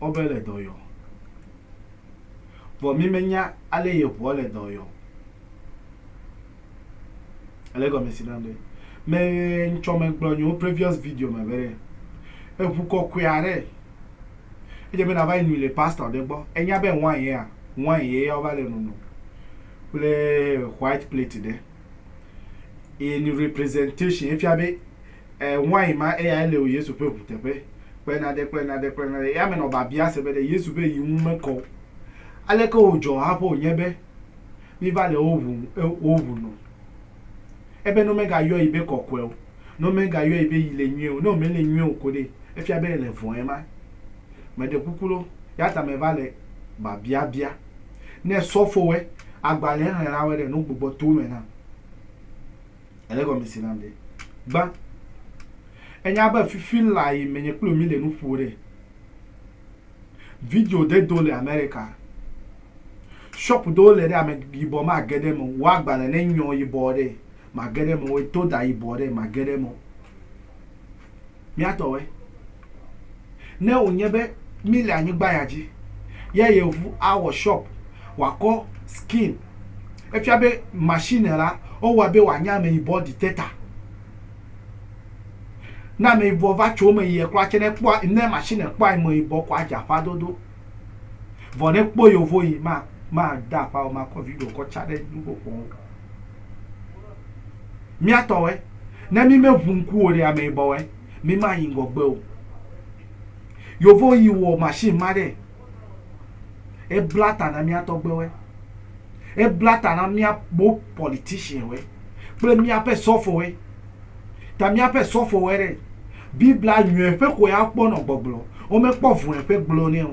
Ewɔ abe ele dɔ yɔm. Vɔ mímenya ale yi eŋua le dɔ yɔm o. Ele egɔme si nam ɖe? Me ŋtsɔ megblɔ nyewo previous video me be ɖe eŋu kɔkɔe aɖe edze be nava yi nui le pastor ɖe gbɔ. Enya be wine yea, wine ye ya wova le nonom kple white plate ɖe. Eye nu representation efia be. e wain ma eyae le o Yesu ƒe ʋu teƒe kple nade kple nade kple nade. Eya me nɔ biabia se be ɖe Yesu ƒe yi ŋu mekɔ o. Aleke wòdzɔ haƒe wònye be míva le wo ʋu e wo ʋu no? Ebe ne womegayɔe yi be kɔkɔe o, ne womegayɔe yi be yi le nyuie o, ne wòmele nyuie o ko ɖe, efia be yele vɔ̃ ema. Meɖe kuku ɖo, eya ta meva le biabia bia. Ne sɔfowoe, agbalẽxlẽlawoe ɖe, ne wogbugbɔ to wo me nam. Ele gɔmese nam ɖe? Gbã. Enya be fifi lã yi menye kpli mi le nu ƒo ɖe. Video ɖe do le Amerika. Shop ɖewo le ɖe ame yibɔ ma ge ɖe me wa gbalẽ ne nyɔ yibɔ ɖe ma ge ɖe me wo to ɖa yibɔ ɖe ma ge ɖe me. mía tɔwoe. Ne wònye be míle anyigba ya dzi ya yevu awɔ shop wòakɔ skin, efia be machine la wowɔe be wòanye ameyibɔ detector. Ne ameyibɔ va tso eme yi ekura tsɛ ne ekpɔa ne machine kpɔa ameyibɔ koa edze aƒa dodo. Vɔ ɖe kpɔ yovo yi ma ma da akpao ma kɔ video kɔ tsa ɖe nugo kpɔo. Mia tɔ wɛ. Ne mi me ʋu ŋku o ɖe ame yibɔ wɛ mi ma yi ŋgɔ gbe o. Yovo yi wɔ machine ma ɖe e bla ta na mia tɔ gbe wɛ. E bla ta na mia bo politician wɛ kple mia ƒe sɔfo wɛ. Ta míaƒe sɔfowoe ɖe Biblia nyɔe ƒe xɔe akpɔ nɔ gbɔgblɔ, womekpɔ vɔ̃e ƒe gblɔ nɛ o.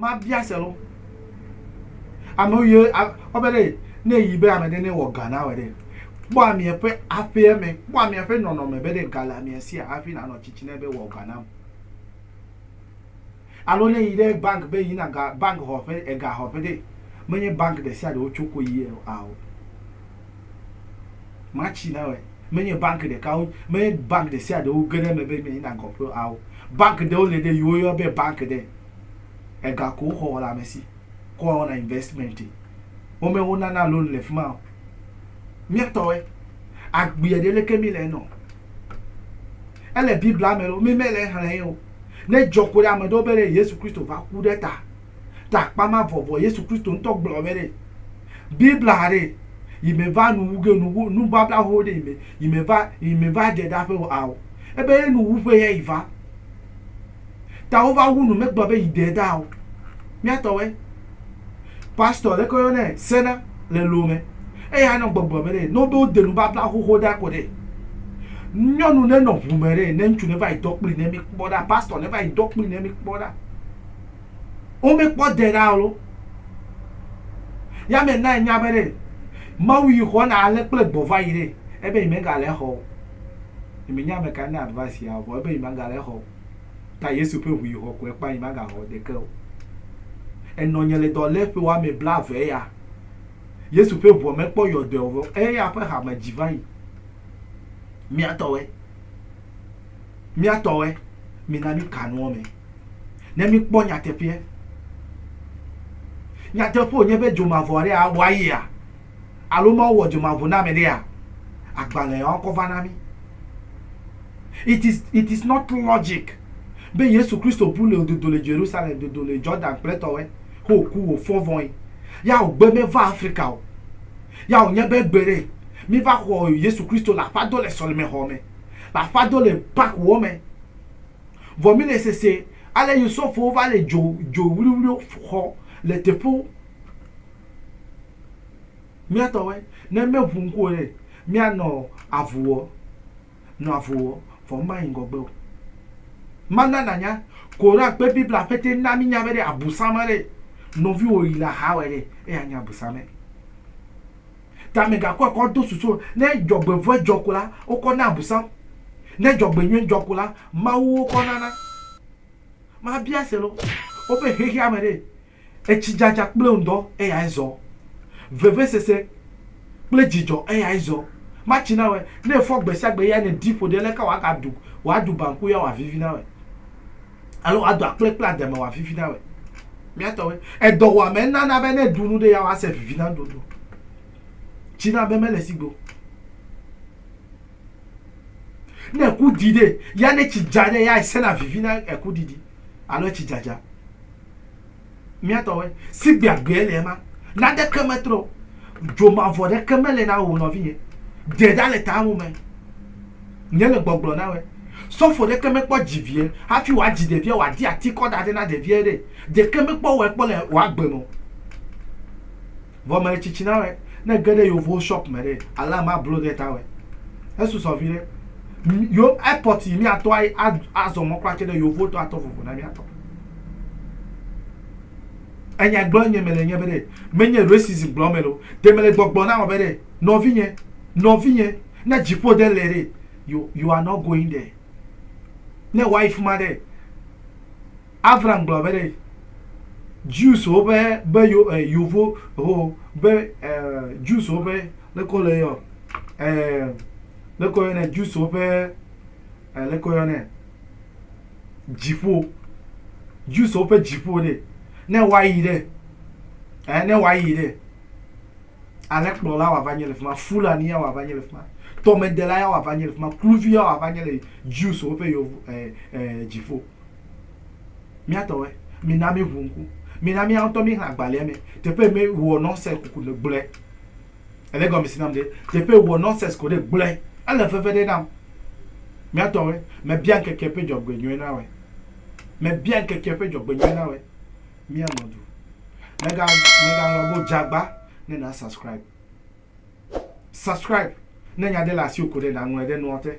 Mabia se lɔ. Amewo ye ɔbɛ ɖe ne yi be ame ɖe ne wɔ ga na wɔ ɖe. Kpɔ amea ƒe aƒea me, kpɔ amea ƒe nɔnɔme be ɖe ga le amea sia hafi nanɔ tsitsi nɛ be wɔ ga nam. Alo ne yi ɖe bank be yina ga bank xɔƒe ega xɔƒe ɖe, menye bank ɖe sia ɖe wotso ko yia o. Ao. Matsi na wɔe. Menye banki ɖekawo, menye banki ɖe sia ɖe woge ɖe eme be mi na gɔ ƒe ao. Banki ɖewo le ɖe yi woyɔa be banki ɖe, ega ko woxɔ wɔ le ame si kɔ wɔna investment e. Wo me wo nana loan le fima o. Mía tɔwoe. Agbeɛ ɖe leke mi le eme o. Ele Biblia me loo, mi me le exlẽ ye o. Ne edzɔ ko ɖe ame ɖewo be ɖe Yesu Kristo va ku ɖe ta. ta akpa ma vɔ vɔ Yesu Kristo ŋutɔ gblɔ be ɖe Biblia ɖe yi me va nu wu ge nu wu nu babla ho ɖe yi me yi me va yi me va dze ɖa ƒe a o. Ebe ye nu wu ƒe ya yi va. Ta wo va wu nu me gblɔ be yi de da o. Mía tɔ we. Pastor ɖe kɔ yɔ ne sena le lo me. Eya nɔ gbɔgblɔ be ɖe no be wo de nu babla ho ho ɖa ko ɖe. Nyɔnu ne nɔ ʋu me ɖe ne ŋutsu ne va yi dɔ kpli ne mi kpɔ ɖa pastor ne va yi dɔ kpli ne mi kpɔ ɖa. wome kpɔ de ɖa alo. Ya me na enya be ɖe Mawu yi xɔ na ale kple gbɔ va yi ɖe ebe yi me ga le xɔ o. Yi me nya ame ka ne advice ya o vɔ ebe yi ma ga le xɔ o. Ta Yesu ƒe ʋu yi xɔ kɔe kpa yi ma ga xɔ ɖeke o. Enɔ nye le dɔ le ƒe wa me bla ve ya. Yesu ƒe ʋua me kpɔ yɔ dɔe o vɔ eya ƒe hame dzi va yi. Mia tɔ we. Mía tɔwoe, mina míka nuwo me ne míkpɔ nyateƒeɛ. Nyateƒe wònye be dzomavɔ aɖe awɔ ayia? Alo Mawu wɔ dzomavɔ na ame ɖea? Agbalẽ yawo kɔ va na mí. It is, it is not logic be Yesu Kristo bu le wòdodo le Jerusalem, dodo le Jordan kple tɔwoe, he wòku, wòfɔ vɔe, ya wògbe meva Afrika o. Ya wònye be gbeɖe míva xɔ Yesu Kristo le aƒeado le sɔlemexɔ me. la fado le pak wɔ mɛ. Vɔ mí le sese ale yi sɔfowo va le jo jo wliwliwo xɔ le teƒewo. Míatɔwɛ, ne mɛ ŋu ŋku o ɖe, mía nɔ avu wɔ nɔ avu wɔ vɔ ŋ ma yi ŋgɔgbe o. Ma na na nya, Koran kpe Bibla ƒe te na mí nya be ɖe abu sa ma ɖe, nɔviwò yi le axa wɛ ɖe, eya nyi abu sa mɛ. Ta mègakɔe kɔ do susu o. Ne dzɔgbevɔ̃e dzɔ ko la, wokɔ naa Abosam. Ne dzɔgbenyui dzɔ ko la, mawuwo kɔ nana. Mabia selo. Woƒe xexeame ɖe, etsidzadza kple ŋdɔ eyae zɔ. Vevesese kple dzidzɔ eyae zɔ. Matsi na wɔe. Ne efɔ gbe sia gbe eyae nèdi ƒo ɖi aleke wòagaɖu wòaɖu banku ya wòavivi na wɔe? Alo woado akple kple ademe wɔ avivi na wòe. Mía tɔwoe. Edɔwuame nana be ne ɖu nu ɖe ya woa se vivi na nuɖuɖu. Tsi na be mele si go. Ne eku ɖi ɖe ya ne tsi dza ɖe ya esena vivi na eku ɖiɖi alo etsi dzadza. mía tɔwoe. Sigbe agbee le ema. Naneke metrɔ o. Dzo mavɔ ɖeke mele na wò o nɔvinye. Dze ɖa le tawò me. Nye le gbɔgblɔ na wòe. Sɔfo ɖeke mekpɔ dzi vie hafi wòadzi ɖevia o, wòadi atikɔ ɖa ɖe na ɖevia ɖe. Ɖeke mekpɔ wɔe kpɔ le wò agbe me o. Vɔ mele tsitsina wɛ. Ne ge ɖe yovowo shop me ɖe, alarm ma blo ɖe ta wɛ. Esu sɔ viɖe. Yo airport yi mia tɔ azɔ mɔ kpla tse ɖe yovowo tɔ atɔ vovo na mia tɔ. Enya gblɔ nye mele nye be ɖe, me nye racism gblɔ me lo. Ɖe mele gbɔgblɔ na wɔ be ɖe, nɔvi nye, nɔvi nye, ne dziƒo ɖe le ɖe, you are not going there. Ne wa yi fima ɖe. Avram gblɔ be ɖe Jews wo be be yo eh, yovo ho be eh, Jews wo be leko le yo eh, leko yo ne Jews wo be eh, leko yo ne dziƒo Jews wo be dziƒo ɖe ne woayi ɖe eh, ne woayi ɖe alẽkplɔla wòava nye le fi ma fulani ya wòava nye le fi ma tɔmedela ya wòava nye le fi ma kluvi ya wòava nye le jews woƒe yevu eh, eh, dziƒo Mía tɔwoe. Mina míʋu ŋku. Mina mía ŋutɔ míexlẽ agbalẽa me. Teƒe mi wɔ nɔnsɛs kuku ɖe gblɔe. Èle egɔmesi nam ɖe? Teƒe wɔ nɔnsɛs ko ɖe gblɔe. Ele veve ɖe nam. Mía tɔwoe. Mebia ŋkekea ƒe dzɔgbenyui na woe. Mebia ŋkekea ƒe dzɔgbenyui na woe. Mía nɔ du. Mega, mega ŋlɔ be Dzagba ne na subscribe. Subscribe. Ne nya ɖe le asiwò ko ɖe naŋlɔe ɖe nua te.